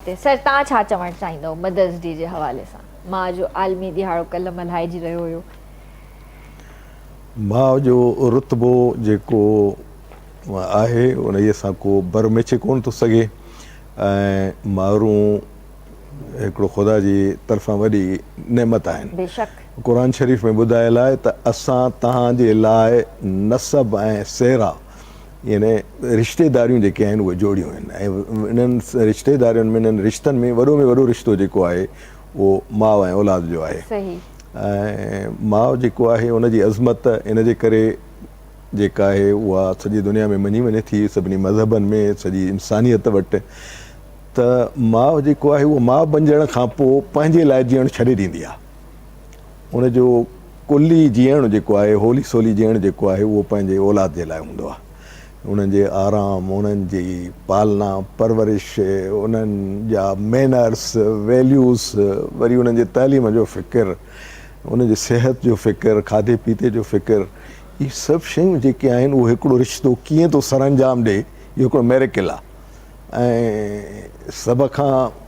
ته سر تان ڇا چوڻ چاهيندؤ مدرس ڊي جي حوالي سان ماء جو عالمي ڏهاڙو ڪلهه ملهائجي رهيو هيو. ماء جو رتبو جيڪو آهي انهي سان ڪو بر ميچي ڪونه ٿو سگهي ۽ مائرون هڪڙو خدا جي طرفان وڏي نعمت آهن قرآن شريف ۾ ٻڌايل آهي ته اسان تهان جي لاء نسب ۽ سيرا يعني رشتيداريون جيڪي آهن اهي جوڙيون آهن ۽ انهن رشتيدارين ۾ انهن رشتن ۾ وڏو ۾ وڏو رشتو جيڪو آهي اهو ماء ۽ اولاد جو آهي ۽ ماء جيڪو آهي ان جي عظمت ان جي ڪري جيڪا آهي اها سڄي دنيا ۾ مڃي وڃي ٿي سڀني مذهبن ۾ سڄي انسانيت وٽ ته ماء جيڪو آهي اهو ماء بنجڻ کان پوء پنهنجي لاء جيئڻ ڇڏي ڏيندي آهي ان جو ڪلي جيئڻ جيڪو آهي، هولي سولي جيئڻ جيڪو آهي، اهو پنهنجي اولاد جي لاء هوندو آهي. انهن جي آرام، انهن جي پالنا، پرورش، انهن جا مينرس، ويليوز، وري انهن جي تعليم جو فڪر، انهن جي صحت جو فڪر، کاڌي پيتي جو فڪر، اهي سڀ شيون جيڪي آهن، اهو هڪڙو رشتو ڪيئن ٿو سرانجام ڏئي، اهو هڪڙو ميريڪل آهي. ۽ سڀ کان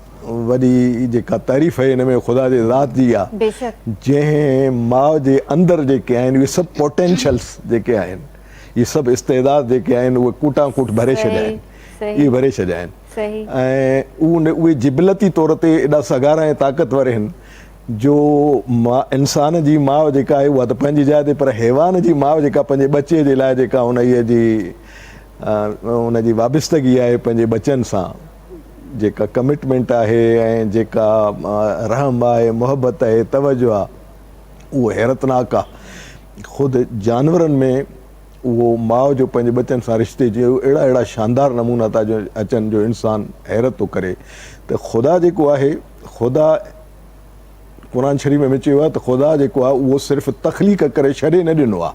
وڏي جيڪا تعريف هن ۾ خدا جي ذات جي آ جنهن ماء جي اندر جيڪي آهن اهي سڀ پوٽينشلز جيڪي آهن اهي سڀ استعداد جيڪي آهن اهي ڪوٽان ڪوٽ ڀري ڇڏيا آهن اهي ڀري ڇڏيا آهن ۽ اهي جبلتي طور تي ايڏا سگهارا ۽ طاقتور آهن جو انسان جي ماء جيڪا آهي اها ته پنهنجي جاء تي پر حيوان جي ماء جيڪا پنهنجي ٻچي جي لاء جيڪا انهيء جي ان جي وابستگي آهي پنهنجي ٻچن سان، جيڪا ڪمٽمينٽ آهي ۽ جيڪا رحم آهي، محبت آهي، توجه آهي، اهو حيرتناڪ آهي. خود جانورن ۾ اهو ماء جو پنهنجي ٻچن سان رشتي جي اهڙا اهڙا شاندار نمونا ٿا اچن جو انسان حيرت ٿو ڪري ته خدا جيڪو آهي، خدا قرآن شريف ۾ چيو آهي ته خدا جيڪو آهي اهو صرف تخليق ڪري ڇڏي نه ڏنو آهي،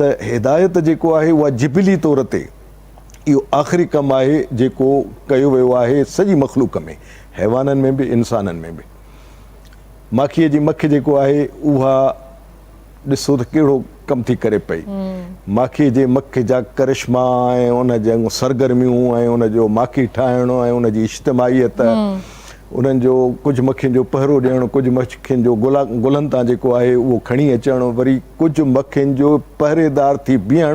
ته هدايت جيڪو آهي اها جبلي طور تي اهو آخري ڪم آهي جيڪو ڪيو ويو آهي سڄي مخلوق ۾ حيوانن ۾ به انسانن ۾ به ماکيء جي مک جيڪو آهي اها ڏسو ته ڪهڙو ڪم ٿي ڪري پئي ماکيء جي مک جا ڪرشما ۽ ان جون سرگرميون ۽ ان جو ماکي ٺاهڻ ۽ ان جي اجتماعيت انهن جو ڪجهه مکين جو پهرو ڏيڻ، ڪجهه مکين جو گلن تان جيڪو آهي اهو کڻي اچڻ، وري ڪجهه مکين جو پهريدار ٿي بيهڻ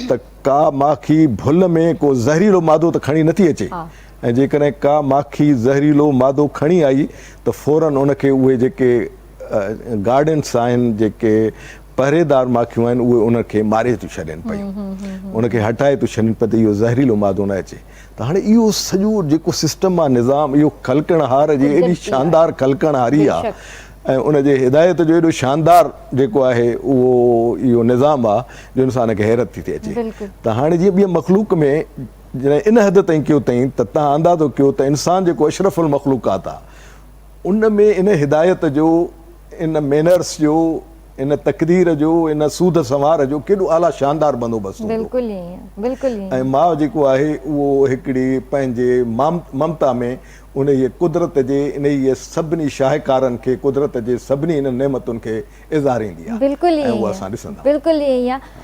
ته ڪا ماکي ڀل ۾ ڪو زهريلو مادو ته کڻي نٿي اچي ۽ جيڪڏهن ڪا ماکي زهريلو مادو کڻي آئي ته فورن ان کي اهي جيڪي گارڊنس آهن، جيڪي پهريدار ماکيون آهن اهي ان کي ماري ٿيون ڇڏين پيون، ان کي هٽائي ٿيون ڇڏين پيون ته اهو زهريلو مادو نه اچي. ته هاڻي اهو سڄو جيڪو سسٽم آهي نظام اهو خلقڻهار جي ايڏي شاندار خلقڻهاري آهي ۽ ان جي هدايت جو ايڏو شاندار جيڪو آهي اهو اهو نظام آهي جو انسان کي حيرت ٿي ٿي اچي ته هاڻي جيئن ٻي مخلوق ۾ جڏهن ان حد تائين ڪيو تائين ته تان اندازو ڪيو ته انسان جيڪو اشرف المخلوقات آهي ان ۾ ان هدايت جو ان مينرس جو ان تقدير جو، ان سوڌ سنوار جو ڪيڏو اعليٰ شاندار بندوبست هوندو. بلڪل ائين، بلڪل ائين. ۽ ماء جيڪو آهي اهو هڪڙي پنهنجي ممتا ۾ انهيء قدرت جي انهيء سڀني شاهڪارن کي، قدرت جي سڀني انهن نعمتن کي اظهاريندي آهي ۽ اهو اسان ڏسندا آهيون. بلڪل ائين آهي.